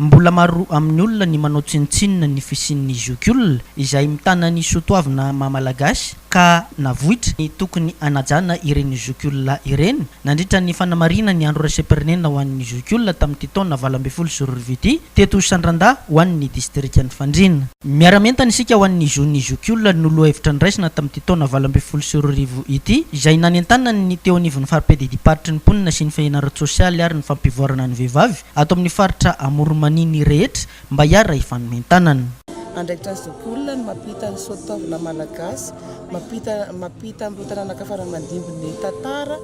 Mbola maro amin'ny olona ny manao tsinontsinona ny fisian'ny zokiolona izay mitana ny soatoavina maha Malagasy ka navoitra ny tokony hanajana ireny zokiolona ireny. Nandritra ny fanamarihina ny andro iraisam-pirenena ho an'ny zokiolona tamin'ity taona valo ambin'ny folo sy roa arivo ity teto Sandrandà ho an'ny distrikan'i Fandriana. Miara-mientana isika ho an'ny zon'ny zokiolona no lohahevitra niraisina tamin'ity taona valo ambin'ny folo sy roa arivo ity izay nanentanan'ny teo anivon'ny Faripedidimparotry ny Mponina sy ny Fahena ara-tsosialy ary ny Fampivoarana ny Vehivavy ato amin'ny faritra Amoron'i Mania ny rehetra mba hiara hifanomen-tanana. Andraikitra ny zokiolona ny mampita ny soatoavina malagasy, mampita mampita amin'ireo taranaka fara-mandimby ny tantara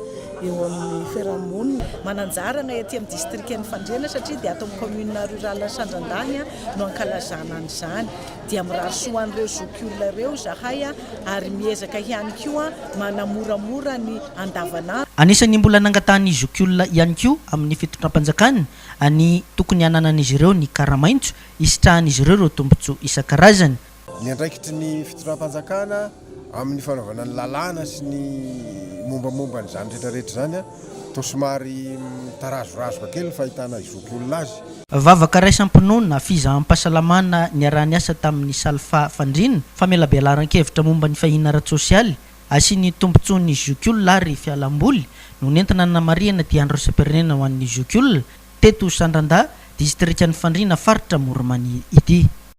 eo amin'ny fiarahamonina. Mananjara anay aty amin'ny distrikan'i Fandriana satria dia ato amin'ny commune rurale Sandrandany no ankalazana an'izany. Dia mirary soa an'ireo zokiolona ireo izahay. ary miezaka ihany koa manamoramora ny andavanandro. Anisan'ny mbola nangatahan'ny zokiolona ihany koa amin'ny fitondram-panjakana ny tokony hananan'izy ireo ny kara-maitso hisitrahan'izy ireo ireo tombontsoa isan-karazany. Ny andraikitry ny fitondram-panjakana amin'ny fanaovana ny lalàna sy ny mombamomba an'izany rehetrarehetra izany. Toa somary mitarazorazoka kely ny fahitana izoky olona azy. Vavaka raisam-pinoana, fizaham-pahasalamana niaraha-niasa tamin'ny Salfa Fandriana, famelabelaran-kevitra momba ny fahina ara-tsosialy, asian'ny tombontsoa ny zokiolona ary fialam-boly no nentina nanamarihana ity Andro Iraisam-pirenena ho an'ny zokiolona teto Sandrandà, distrikan'i Fandriana, faritra Amoron'i Mania ity.